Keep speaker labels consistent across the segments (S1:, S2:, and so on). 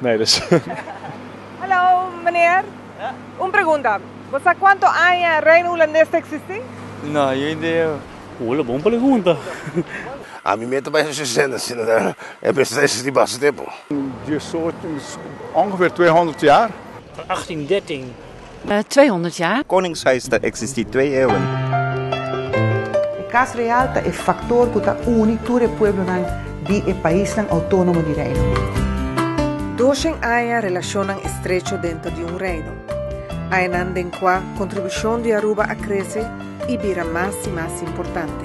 S1: Nee dus. Hallo meneer, un pregunta, bo sa cuanto aña Reino Hulandes ta existi? No, yo no idea. Hola, bon pregunta. A mi meta bay socia zen asina ta e mester ta existi basta tempo. Diesocho, ongeveer tweehonderd jaar. Van achttien, dertien. tweehonderd jaar. Koningshuis ta eksistí twee eawen. E Kas Real ta e faktor ku ta uni tur e pueblonan di e paisnan outónomo di Reino. Doshen aña relashonnan estrecho denter di un reino. Añanan den kua kontribushon di Aruba a krese i bira mas i mas importante.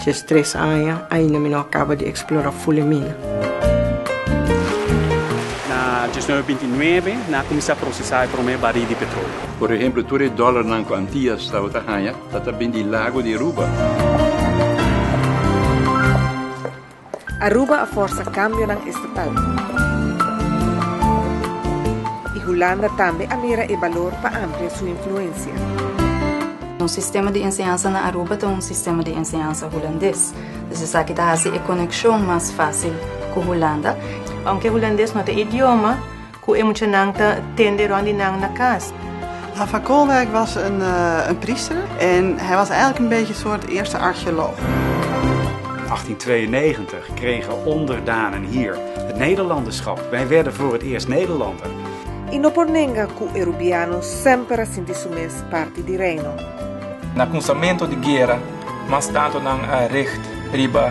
S1: Djes tres aña, ainda mi no a caba di explora full e mina. Na diesnuebe binti nuebe, nan a cuminsa procesa e prome baril di petroleo. Por ehemplo, tur e dolarnan cu Antillas tabata haña, ta ta bindi lago di Aruba. Aruba a forsa kambionan estatal i Hulanda tambe a mira e balor pa amplia su influensia. Un sistema di enseñansa na Aruba ta un sistema di enseñansa hulandes, dus esaki ta hasi e konekshon mas fásil ku Hulanda. Ounke hulandes no ta e idioma. Ku e muchanan ta tende rònt di nan na kas. Van Koolwijk was een priester en hij was eigenlijk een beetje een soort eerste archeoloog. 1892 kregen onderdanen hier het Nederlanderschap. Wij werden voor het eerst Nederlander. I no por nenga ku e Rubiano semper a sinti su mes parti di Reino. Na kunsamentu di guera, mas tantu nan a richt riba.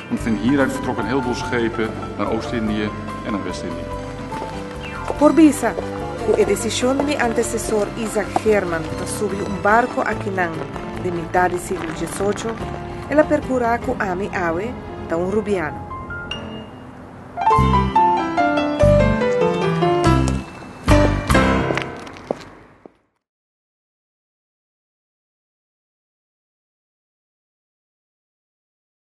S1: En van hieruit vertrokken heel veel schepen naar Oost-Indië en naar West-Indië. Por bisa cu e decision di mi antecesor Isaac German pa subi un barco aki nan den mitad di siglo diesocho, el a percura cu ami awe ta un Rubiano.